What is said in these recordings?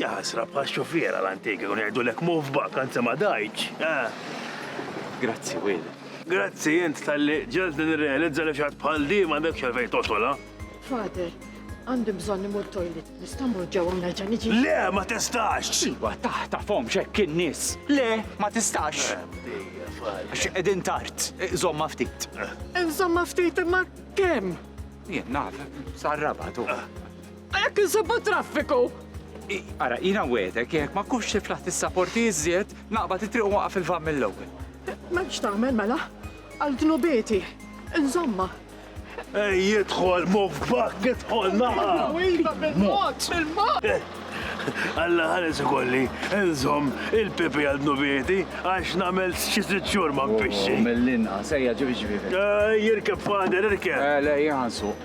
Jaħasra bħax-xufiera l-antik ikun jgħidulek move back anzi ma dajtx, eh! Grazzi, Will. Grazzi int talli ġegħeltni nirrealizza li f'xatt bħal din m'għandekx għalfejn togħsolha. Father, għandi bżonn immur toilet. Nista' mmur ġewwa u nerġa' niġi? Le, ma tistax! Iva, taħtafhomx hekk in-nies. Le, ma tistax. Għax qegħdin tard. Żommha ftit. Żommha ftit imma kemm? Jien naf, sar-raba' tu. Jekk insibu traffiku! Ara, jina wedek, jekk ma kux xif laħt is-saporti iżjed, naqba titriq u waqaf il-vam mill-ewwel. Ma x'tagħmel mela? Għal dnubieti, insomma. Ej, jidħol, muf gbak, jidħol, naqa! Iva, bil-mod, bil-mod! Alla ħares ikolli, nżom il-pipi għal dnubieti, għax namel xi sitt xhur ma nfixxi. Mill-inqas, ejja ġibi ġibi. Jirkeb fader, irkeb. Le, jgħansu.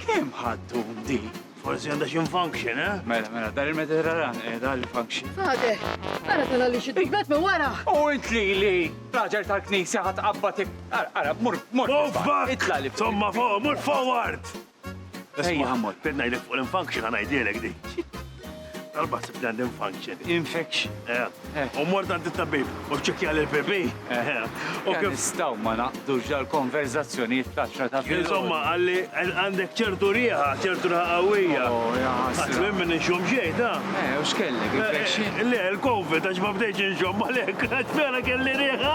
Kemm ħadtu dik? Forsi għandha xi function, eh? Mela, mela, dar il-Mediterran, eh, dar il-function. Għade, għara tala li xiddu blet me wara. U int li li, raġel tal-knisja ħat qabbatik. Għara, mur, mur. Bobbak! Itla li. Tomma fuq, mur forward! Ejja, mur. Bidna jdek fuq l-function għanajdilek di. Darba ħsib li għandim function. Infection. Eh. U mort għand it-tabib u ċekja l bebi eh. U kif nistaw ma naqdu ġal konverzazzjoni fl-10 ta' fil. Insomma, għalli għandek ċertu riħa, ċertu riħa għawija. Oh, Għaslu minn nxum ġejt, ha? Eh, u xkelli, infection? Eh, le, l-covid, għax ma bdejċ nxum, għalek, għax vera kelli riħa.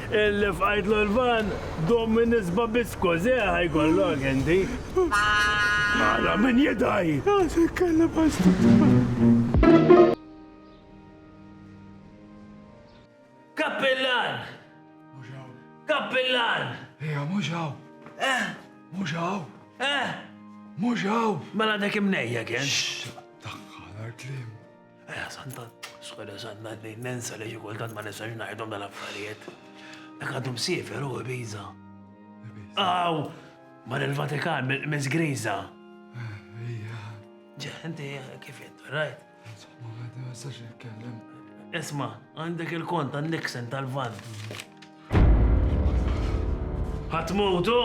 Illi fqajtlu l-van, dum minn isba' biss kożeħ ikollok inti. Ara min jidgħi! Għasek kellha bażtun. Kappillan! Mhux hawn. Kappillan! Ejja, mhux hawn. Eh? Mhux hawn. Eh? Mhux hawn. Mela dak imnejjek int. Xxx! Daħħal għall-kliem. Eja, Santa, skwela Santa, ninsa li ġikultant ma nistax najdom dal-affarijiet. Dak għadhom sifer u biza. Aw, mar il-Vatikan, Miss Griza. Ġa, inti kif jent, rajt? Insomma, ma nistax nitkellem. Isma, għandek il-kont għan-Nixon tal-Vant. Ħatmut hu?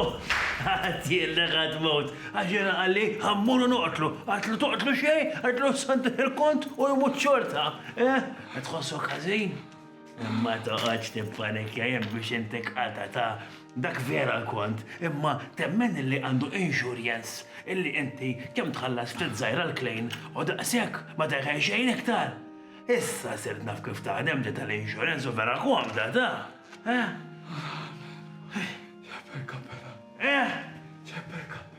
Għedtilek ħatmut. Għax jiena qalli ħammur u noqtlu. Għedtlu toqtlu xejn, għedtlu santih il-kont u jmut xorta. Eh? Qed tħossok ħażin? Imma toqgħodx tippanikja jekk biex inti qata ta' dak vera l-kont, imma temmen illi għandu insurjens illi inti kemm tħallas ftit żgħira l-klejn u daqshekk ma teħel xejn iktar. Issa sirt naf kif taħdem di tal-insurance u vera komda da. Eh? Ċepper kappella. Eh? Ċepper kappella.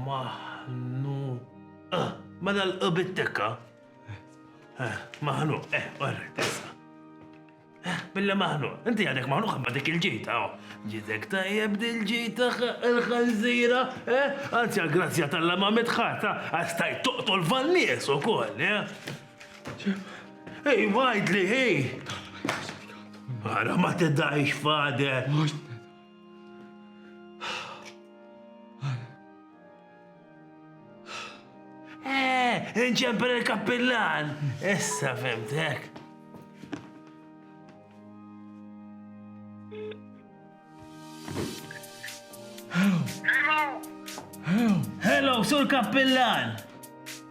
Maħnu. Ah, ma dal-qbittekka. Eh, maħnu, eh, għarri, tessa. Billi maħnuq. Inti għadek maħnuq imma dik il-ġita, oh. Ġitek tajjeb dil-ġita il-ħanżira, eh? Anzi għal-grazzja tal-la ma mitħata, għastajt toqtol van-nies u koll, eh? Ej, wajdli, ej! Għara ma t-dajx fader. Eh, inċempel il-kappillan! Issa fimtek. Hello, sur kappillan!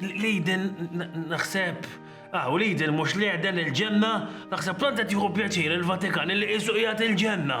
Lejden naħseb, ah, u Lejden mux Lejden il-ġenna, naħseb tant qed jieħu pjaċir il-Vatikan li qisu qiegħed il-ġenna.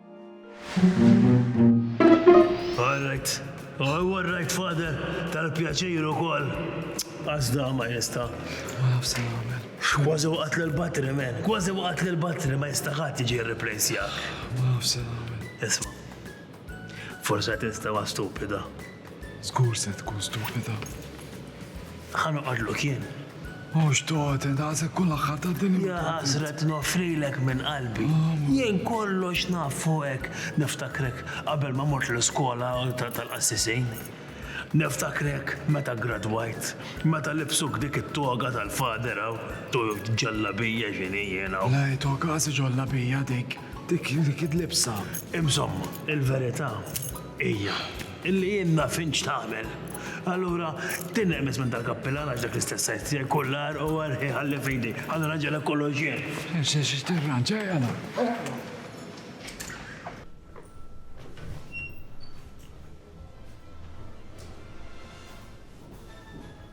All right. Oh, all right, father. Tal-pjaċir u koll. Għazda ma jista. Għaf se għamil. Kważi waqt l-batri, men. Kważi waqt l-batri ma jista ħat iġi replace jak. Għaf se għamil. Isma. Forse testa ma stupida. Żgur se tkun stupida. Ħa noqgħodluk jien. Mhux toti, daqshekk kull aħħar ta' din. Ja ħasret noffrilek minn qalbi. Jien kollox naf fuqek. Niftakrek qabel ma mort l-iskola tal-qassisin. Niftakrek meta ggradwajt, meta libsuk dik it-toga tal-Father hawn, ġallabija x'inhi jien hawn. Le toga, qasi ġollabija dik, dik il-libsa. Insomma, il-verità Hija, li jien naf int x'tagħmel. Allura, tinneqmes minn dal-kappillan għax dak l-istess sajd tiegħi kull għarq u għerq iħalli f'idi. Ħa nirranġalek kollox jien. Issa se tirranġa, jala.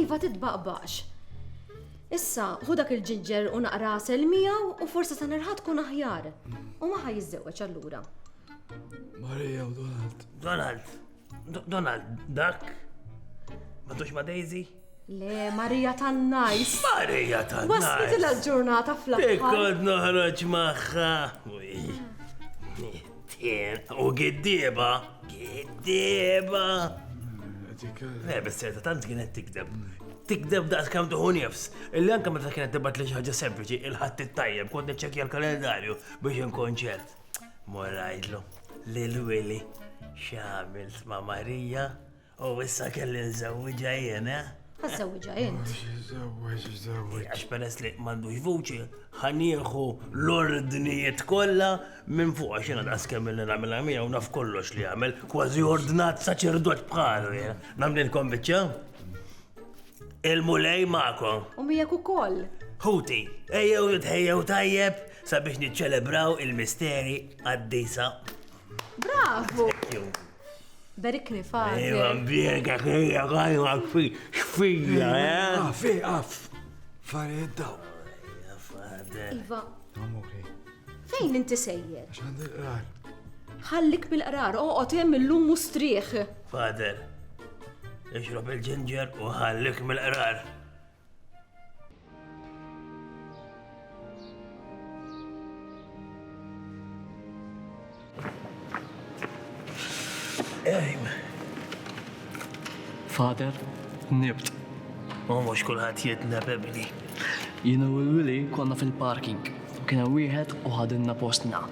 Iva titbaqbaqx. Issa, hu dak il-ġiġġer u naqra sel miegħu u forsi sa nerħa tkun aħjar. U ma jiżżewweġ allura. Marija u Donald. Donald. Donald, dak? Ma tux ma Daisy? Le, Marija tan najs. Marija tan najs. Waslet il-ġurnata fl-aħħar. Ikkod noħroġ maħħa. Tien u giddieba, giddieba. Le, bis serta tant kienet tikdeb. Tikdeb daqs kam tuħu nifs. Illi anka meta kienet tibat li ħaġa sempliċi, il-ħadd it-tajjeb, kont niċċekja l-kalendarju biex inkonċert. Morajtlu, li l-wili, xamil ma Marija, U issa kelli nżewwiġha jien, eh? Ħażżewwiġha int. Żewweġ, żewweġ. Għax peress li m'għandux vuċi, ħanieħu l-ordnijiet kollha minn fuq għax jiena daqskemm li nagħmilha miegħu naf kollox li jagħmel, kważi ordnat saċerdot bħalu jien. Nagħmlilkom biċċa? Il-mulej magħkom. U miegħek ukoll. Ħuti, ejjew nitħejjew tajjeb sabiex niċċelebraw il-misteri għad-disa. Bravu! Berikni fa. Ejwa mbiega kejja għajwa fi xfija, eh? Ah, fi għaf. Fare daw. Iva. Amore. Fejn inti sejjer? Xand il-qrar. Ħallik bil-qrar, oqgħod hemm illum mustrieħ. Fader, ixrob il-ġinġer u ħallik mill-qrar. Father, nibt. U mhux kulħadd jidna bibli. Jiena u l-Willy konna fil-parking. Kien hemm wieħed u ħadilna postna.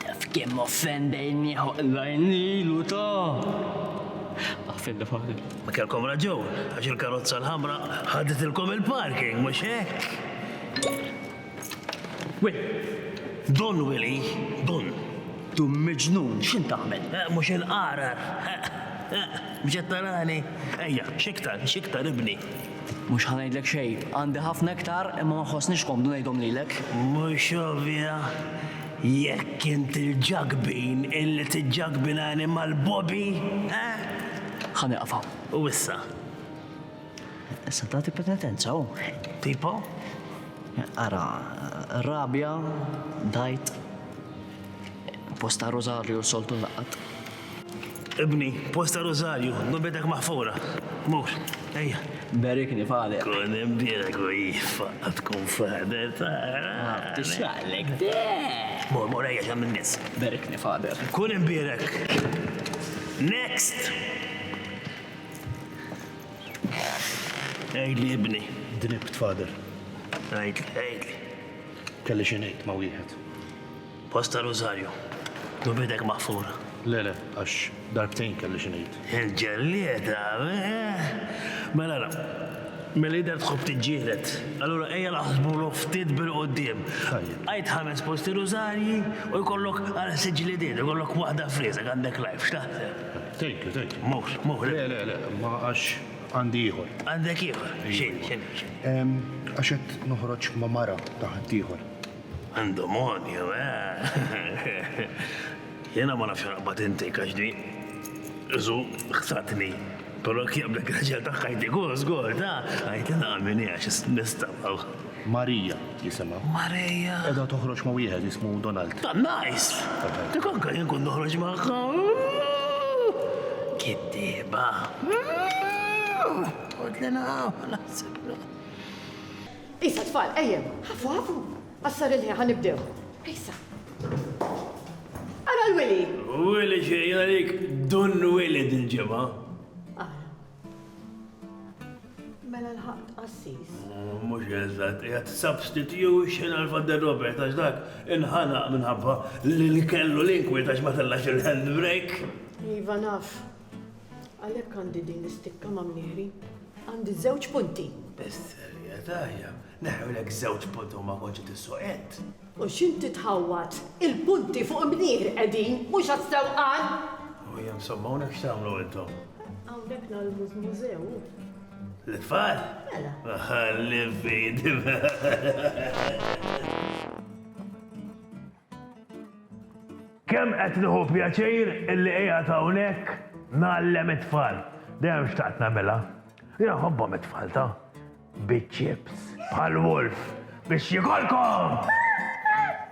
Taf kemm offendejnieħ oqra jnil u ta! Ma kellkom raġun, għax il-karozza l-ħamra ħaditilkom il-parking, mhux hekk? Will, Dun Willy, dun! Dun miġnun, x'int tagħmel? Mhux inqagħrar! Mhux qed tarani? Ejja, x'iktar, x'iktar ibni! Mhux ħa ngħidlek xejn. Għandi ħafna iktar imma ma nħossnix komdu ngħidhom lilek. Mhux ovvja? Jekk int il-ġakbin illi tiġġakbinani mal-Bobby, eh? Ħa nieqaf hawn. U issa? Issa tagħti penitenza, hu. Tipo? Ara, rabja, dgħajt, post ta' Rosario soltu nlaqat. Ibni, post ta' rużarju, nubietek maħfura. Mur, ejja. Berikni f'għalek. Kun imbielek u jiffa tkun fader ta' Tixraqlek de. Mur, mur, ejja ġem in-nies. Berikni fader. Kun imbielek. Next! Għidli ibni. Dribt fader. Għidli, għidli. Kelli xi ngħid ma' wieħed. Post ta' Rużarju. Dur b'idek maħfura. Le, le, għax darbtejn kelli xi ngħid. Il-ġellieda, eeh! Mela ara, milli jidher tħobb tiġġieled. Allura ejja naħsbulu ftit bil-quddiem. Tajjeb. Għid ħames posti rużarji u jkollok għal sitt ġlidiet, ikollok waħda f'riesek, għandek life, x'taħseb? Thank you, thank you. Mhux, mhux. Le, le, le, imma għax għandi ieħor. Għandek ieħor? X'inhi, x'inhi, x'inhi? Għax qed noħroġ ma' mara ta' ħaddieħor. Għandhom għonju, eeh! Jiena ma nafx għalaqbad intik għax di, żu, ħsatni. Però jekk jaqblek ir-raġel tagħha jtik hu żgur, ta? Għidli naqa' min hi għax isni nistamaw. Maria jisimha. Maria? Qiegħda toħroġ ma' wieħed jismu Donald. Tant najs! Dik anke jien kont noħroġ magħha. Kittieba. Għidli naqa' u naħsiblu. Isa tfal, ejjew, ħafu ħafu, qassar il-ħin ħa nibdew. Isa. Ara l-Wili. Wili xejn għalik Dun Wili dil-ġimgħa. Ara. Mela l-ħaqt qassis. Oh, mhux eżatt, qiegħed substitution għal Father Robert għax dak inħanaq minħabba li kellu l-inkwit għax ma tellax il-handbrake. Iva naf, Għalhekk għandi din l-istikka ma' mniħri. Għandi żewġ punti. Bis-serjetà hija, neħewlek żewġ punti u ma kontx qed issoqed. U x'inti tħawwad? Il-punti fuq mniħri qegħdin, mhux għas-sewqan! U hija msomma hawnhekk x'tagħmlu intom? Hawnhekk nagħlmu f'mużew. L-itfal? Mela. Ħalli fidi. Kemm qed nieħu pjaċir illi qiegħed hawnhekk ngħallem it-tfal. Dejjem xtaqt nagħmilha. Jiena nħobbhom it-tfal ta. Biċ-chips bħal wolf biex jikolkom!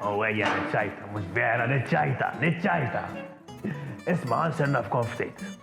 U ejja niċċajta, mhux vera, niċċajta, niċċajta! Isma' ħa nsernafkom ftit.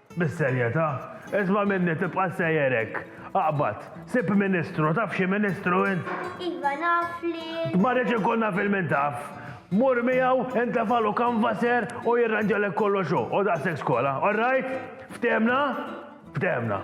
Bis-serjetà? Isma' minni tibqa' sejjer hekk. Aqbad. Sib ministru, taf xi ministru int? Iva, naf lil. Ma rridx inkun naf il-min taf. Mur miegħu, intefagħlu canvasser u jirranġalek kollox hu, hu daqshekk skola. All right? Ftehimna? Ftehimna.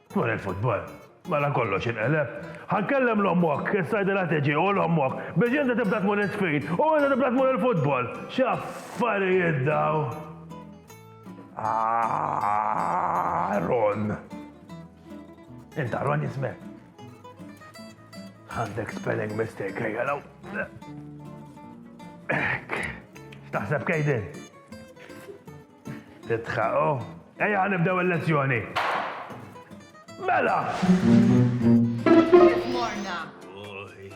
Dwar il-futbol, mela kollox inqeleb. Ħa nkellem 'l ommok, issa għidilha tiġi, u 'l ommok, biex inti tibda tmur is-sfid, u inti tibda tmur il-futbol. X'affarijiet dawn! Aaron! Int Aaron jismek? Għandek spelling mistake, ejja law. Ek. X'taħseb kejdin? Titħaqo. Ejja ħan nibdew il-lezzjoni. Mela! Morna. Uħi,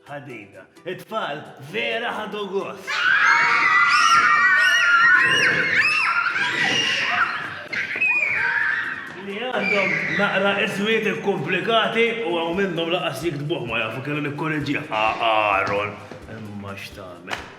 ħadina. It-tfal vera ħadu gost. Li għandhom naqra iswiet komplikati u għaw minnhom laqas jiktbuh ma jafu kellu nikkorreġi. Aaron, imma x'tagħmel.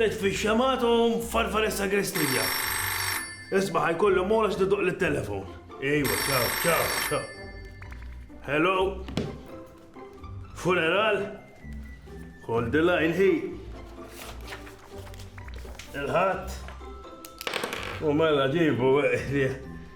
Netfi x-xemgħat u farfar is-sagrestija. Isma' ħa jkollhom ora x'tidoq lit-telefon. Ejwa, ċaw, ċaw, ċaw. Hello? Funeral? Hold the line hi. Il-ħadd. U mela ġibu, eh,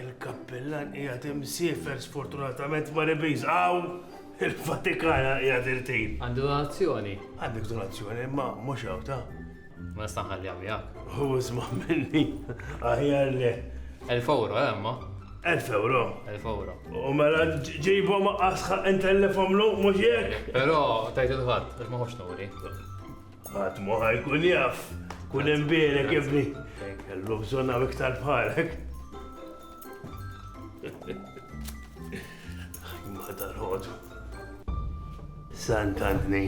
Il-kappillan qiegħed imsiefer sfortunatament mar Ibiza hawn il-Vatikan qiegħed irtin. Għandi donazzjoni. Għandek donazzjoni imma mhux hawn ta'. Ma nista' nħalliha miegħek. Hu isma' minni aħjar le. Elf euro eh, imma. Elf euro. Elf euro. U mela ġibhom asħa intellefhom lu mhux jekk. Però tajt il-ħadd, ma ħox nuri. Ħadd ma ħa jkun jaf, kun hemm bielek ibni. Kellu bżonn hawn iktar bħalek. Ma tal-ħodu. Santantni,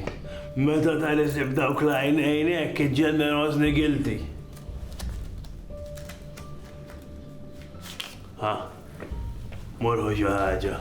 meta tal-isib dawk lajn għajnek ġenerozni gilti. Ha, morħu xi ħaġa.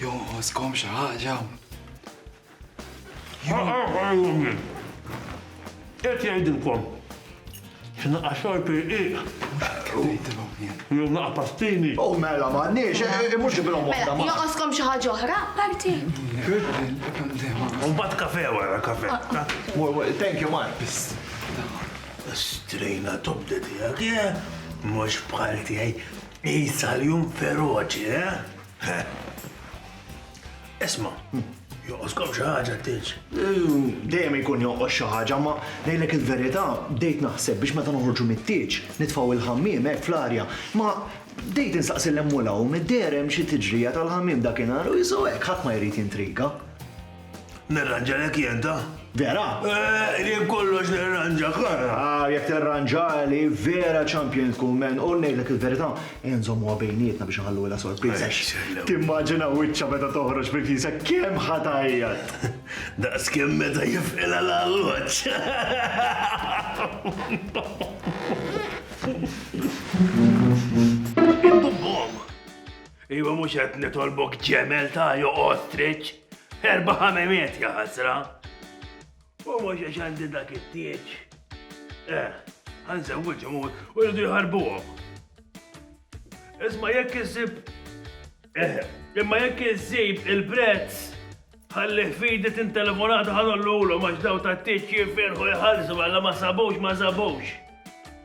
Jonqoskom xi ħaġa? Qed jgħidilkom xi naqa' xorb irqiq. Jew naqa' pastini. O mela m'għandniex, mhux ġibilhom waħda. Mela, jonqoskom xi ħaġa oħra apparti? U mbagħad kafe wara, kafe. Thank you, Mark. Strejna tobda tiegħek, eh? Mhux bħal tiegħi. Qisha l-jum feroċi, eh? Isma, joqoskom xi ħaġa tiġ. Dejjem ikun joqos xi ħaġa, ma ngħidlek il-verità, bdejt naħseb biex meta noħorġu mit-tieġ, nitfgħu il-ħammiem hekk fl-arja, ma bdejt insaqsi l-hemm u l-hawn, id-deher hemm xi tiġrija tal-ħammiem dakinhar u jisu hekk ħadd ma jrid jintriga. Nirranġa lek jien ta? Vera? Eh, jien kollox nirranġa kara. Ah, jekk tirranġa li vera champion tkun men u ngħidlek il-verità, ejja nżommuha bejnietna biex nħallu la sorpriża. Timmaġina wiċċa meta toħroġ mill-kisa kemm ħatajjat. Daqs kemm meta jifqilha l-alloġġ. Iva mhux qed nitolbok ġemel ta' joq ostrich. Erba' ħamemiet ja ħasra. U mhux għax għandi dak it-tieġ. Eh, ħanżewwiġhom u rridu jħarbuhom. Isma' jekk issib eh, imma jekk issib il-prezz ħallih fidi tintelefonata ħanollulhom għax daw tat-tieġ jifirħu jħallsu mela ma sabux ma sabux.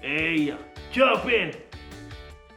Ejja, ċaw pin!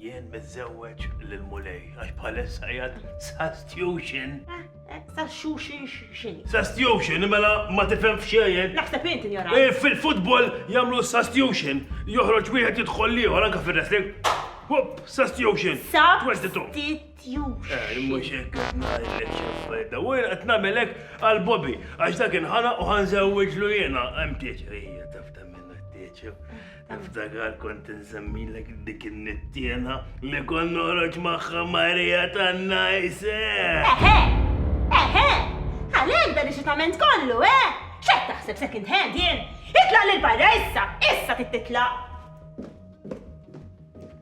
Jien miżżewweġ lill-Mulej għax bħalissa qiegħed sastjuxin. Sastjuxin x'in? Sastjuxin mela ma tifhem xejn. Naħseb int injora. Eh, fil-futbol jagħmlu sastjuxin. Joħroġ wieħed jidħol liħor anke fir-wrestling. Hop, sastjuxin. Sastjuxin. Eh, mhux hekk qed ngħidlek x'affarijiet. U jien qed nagħmelek għal Bobby għax dak inħana u ħanżewwiġlu jiena hemm tieċer. Taf ta' minna tieċer. Niftakar kont insemmilek dik in-nittiena li kont noħroġ magħha Marija tan-Najse. Eħe, eħe, għalhekk dan ix-xitament kollu, eh? X'qed taħseb second hand jien? Itlaq lil barra issa, issa trid titlaq.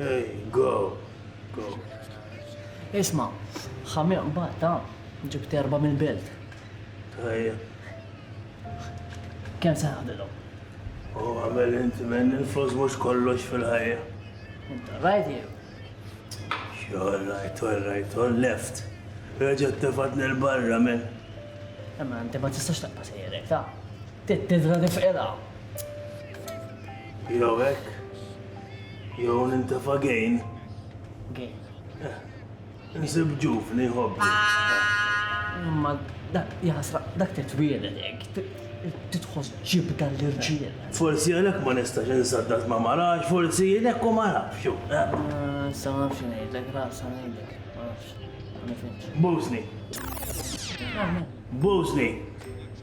Hey, go, go. Isma, ħamir mbagħad ta' ġibt erba' mill-belt. Tajja. Kemm se ħadilhom? U għamel inti minn il-flus mhux kollox fil-ħajja. Rajt jew? Xogħol rajt, rajt, left. Reġgħet tifatni nel barra minn. Imma inti ma tistax taqqa' sejrek ta' tittra tifqilha. Jew hekk, jew nintefa' gain. Gain. Eh, insib ġuvni ħobbi. Imma dak jasra, dak titwieled hekk, titħoss ġibda l-irġiel. Forsi għalhekk ma nistax insaddad ma marax, forsi għalhekk u ma nafx. Sa ma nafx ngħidlek, ra sa ngħidlek, ma nafx. Bosni. Bosni.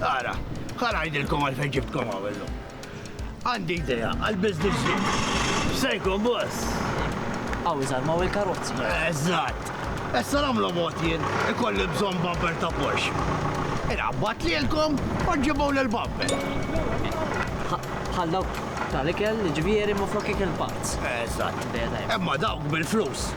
Ara, ħanajdilkom għal fejn ġibtkom għawellu. Għandi idea għal-biznis jien. Sejkom, boss. Għaw, iżgħar ma' il-karozzi. Eżatt. Issa nagħmlu mod jien ikolli bżonn bumper ta' Porsche. Irabbat li l-kom u ġibu l-bumper. Ħallaw tal-ikel, ġvieri ma' flok ikel pazz. Eżatt. Imma dawk bil-flus.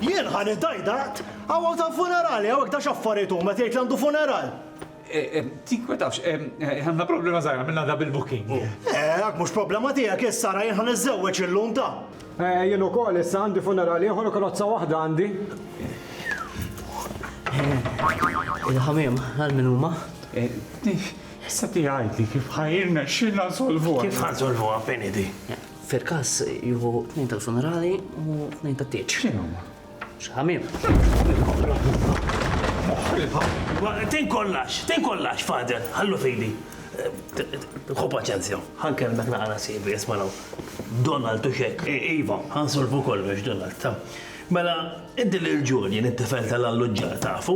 Jien ħa nidgħid għad, hawn hawn ta' funerali hawn hekk ta' x'affarijiet huma qed jgħid li għandu funeral. Tinkwetawx, għandna problema żgħira għamilna double booking. Dak mhux problema tiegħek issa ara jien ħa niżżewweġ illum ta'. Jien ukoll issa għandi funeral ieħor u karozza waħda għandi. Il-ħamiem għal min huma? Issa tgħidli kif ħa jirnexxilna nsolvuha. Kif ħa nsolvuha fejn hi di? Fil-każ jieħu tnejn tal-funerali u tnejn tat-tieġ. X'inhu huma? Xi ħamiem. Tejn kollax, tejn kollax, Father, ħallu fidi. Ħu paċenzja, ħankellmek naqra sivi, isma' Donald u xek. Iva, ħansolvu kollox, Donald. Mela, Inti lil Julian, it-tifel tal-alluġġar, tafu?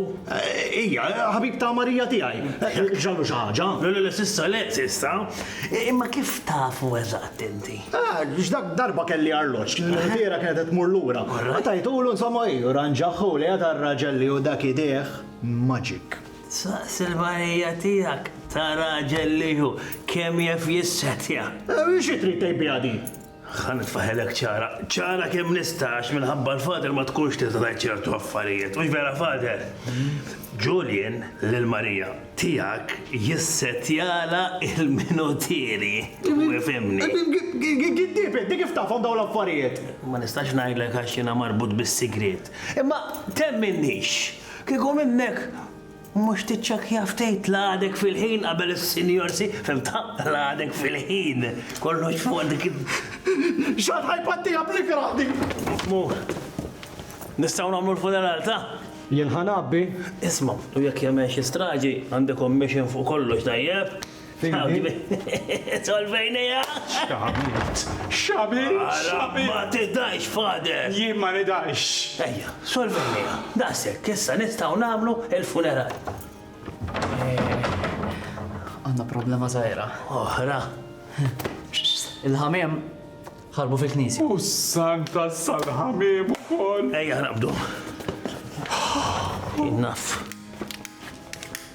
Ija, ħabib ta' Marija tiegħi. Ġrallu xi ħaġa? Le, le, le, s'issa le, s'issa. Imma kif tafu eżatt inti? Għax dak darba kelli arloġġ, l-ħbiera kienet qed tmur lura. Tajtulu, insomma, hi, u ranġaħħu lejha tar-raġel li hu dak idejh magic. Saqsi l-Marija tiegħek ta' raġel li hu, kemm jaf jissetja. Xi trid tgħid biha din? Ħa nitfaħħilek ċara, ċara kemm nista' għax minħabba l-Father ma tkunx tista' tgħid ċertu affarijiet, mhux vera Father? Julian lil Marija tiegħek jissettjalha l-minutieri, u ifhimni. Giddieb inti, kif tafhom dawn l-affarijiet? Ma nistax ngħidlek għax jiena marbut bis-sigriet. Imma temminniex, kieku minnek, Mhux tiċċekkja ftit l-għadek fil-ħin qabel is-sinjor si, fhimtha? L-għadek fil-ħin. Kollox fuq dik il. X'għad ħajpattiha bl-ikrah din! Mhu. Nistgħu nagħmlu l-funeral ta? Jien ħa ngħabbi. Isma', u jekk jagħmel xi straġi, għandi commission fuq kollox, tajjeb? Solvejnija! X'għamilt? X'għamilt? X'għamilt? Ma tidhajx, Father! Jien ma nidhajx! Ejja, solvejnija. Daqshekk, issa nistgħu nagħmlu l-funeral. Għandna problema żgħira. Oħra. Il-ħamiem ħarbu fil-knisja. U s-santa sal-ħamiem ukoll. Ejja naqbdu. Innaf.